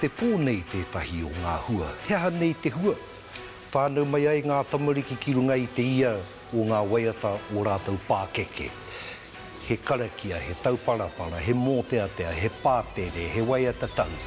Te pō nei tētahi o ngā hua. He aha nei te hua? Whānau mai ai ngā tamariki ki runga i te ia o ngā waiata o rātou pākeke. He karakia, he tauparapara, he mōteatea, he pātere, he waiata tau.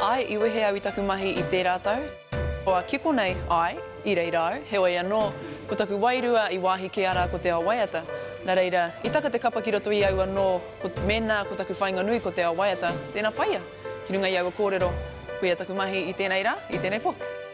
Ae, i wehe au i taku mahi i tērā tau. Kua kiko nei, ae, i reira au. Heoi anō, ko taku wairua i wāhi kē arā ko te ao waiata. Na reira, i taka te kapa ki roto i au anō, ko, mēnā ko taku whainga nui ko te ao waiata, tēnā whaia. Ki runga i aua kōrero, koia taku mahi i tēnei rā, i tēnei pō.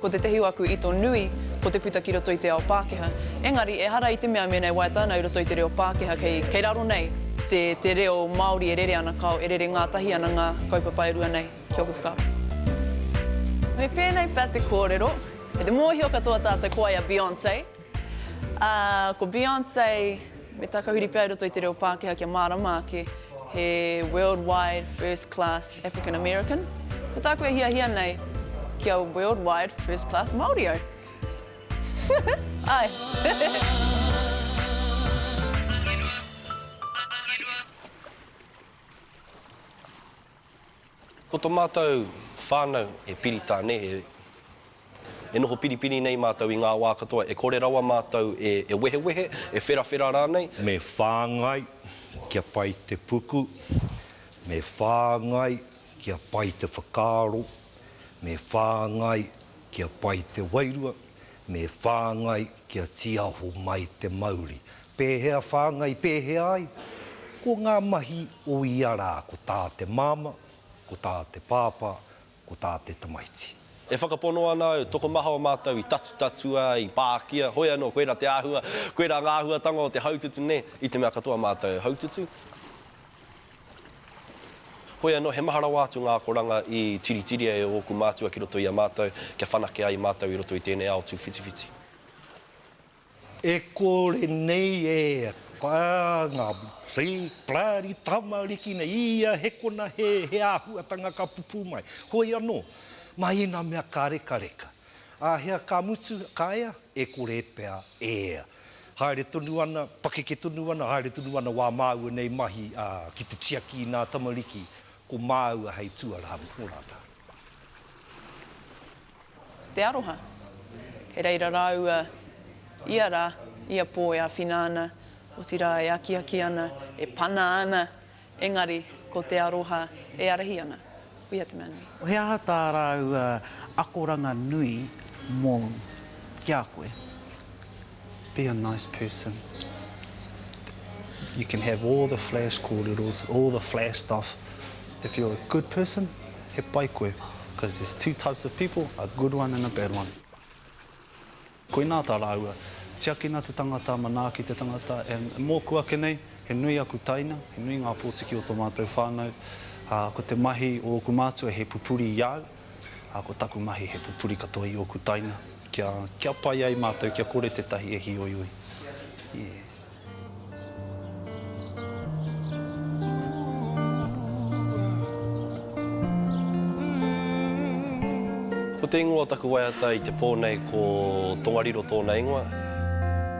Ko tētehi o aku ito nui, ko te puta ki roto i te ao Pākehā. Engari, ehara i te mea mēnei waiata ana i roto i te reo Pākehā, kei, kei raro nei te, te reo Māori e rere ana, kāo, e rere ngātahi ana ngā kaupapa e rua nei ki ōku whakaaro. Me pēnei pea te kōrero, me te mōhio katoa tātou ko wai a Beyonce. Ā, ko Beyonce me tā ka huri pea i roto i te reo Pākehā kia mārama ake, he worldwide first class African American. Ko tāku e hiahia nei, kia worldwide first class Māori au. Āe. Ko to matou whanau e piri tane, e noho piripiri nei matou i nga wa katoa, e kore rawa matou e wehewehe, e wherawhera ranei. Me whangai kia pai te puku, me whangai kia pai te whakaaro, me whangai kia pai te wairua, me whangai kia tiaho mai te mauri, Pēhea whāngai, pēhea ai? Ko ngā mahi o ia rā, ko tā te māmā, ko tā te pāpā, ko tā te tamaiti. E whakapono ana au, tokomaha o mātou i tatutatua, i pākia, hoi anō, koirā te āhua, koirā ngā āhuatanga o te haututu nē, i te mea katoa mātou e haututu. Hoi anō, he maha rawa atu ngā akoranga i tiritiria e ōku mātua ki roto i a mātou, kia whanake ai mātou i roto i tēnei ao tūwhitiwhiti. E kore nei e ngā plari tamariki nei i ia hekona he āhuatanga ka pupū mai. Hoi anō, mai i ngā mea ka rekareka. Āhea ka mutu, ka ea? E kore pea e ea. Haere tonu ana, pakeke tonu ana, haere tonu ana wā māua nei mahi ki te tiaki i ngā tamariki ko māua hei tuarā mō rātou. te aroha. Kei reira rāua ia rā, ia pō e āwhina ana, otirā e akiaki ana, e pana ana, engari ko te aroha e ārahi ana. Kuia te mea nui. He aha tā rāua akoranga nui mōu ki a koe? Be a nice person. You can have all the flash kōreros, all the flash stuff. If you're a good person, he pai koe. Because there's two types of people, a good one and a bad one. Koinā tā rāua, tiakina te tangata, manaaki te tangata, and mōku ake nei, he nui aku taina, he nui ngā pōtiki o tō mātou whānau, ā, ko te mahi o ōku mātua he pupuri i au, ā, ko taku mahi he pupuri katoa i ōku taina, kia, kia pai ai mātou, kia kore tētahi e hīoioi. Yeah. Ko te ingoa o taku waiata i te pō nei ko Tongariro tōna ingoa.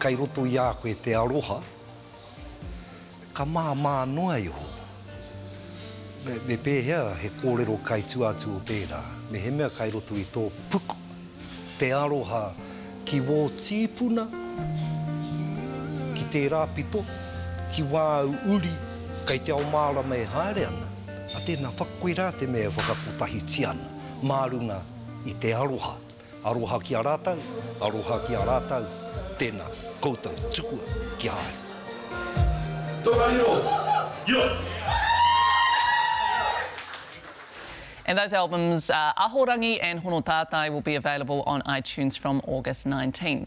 Kei roto i a koe te aroha, ka māmā noa iho. Me pēhea he kōrero kai tua atu o tērā? Mehemea kai roto i tō puku te aroha ki wō tīpuna, ki tērā pito, ki wāu uri kai te ao mārama e haere ana, a tēnā, whakakoirā te mea e whakakotahitia ana mā runga i te aroha. Aroha ki a rātou, aroha ki a rātou, tēnā koutou tukua ki a au. Tongariro, Io! And those albums are Ahorangi and Hono Tātai will be available on iTunes from August 19.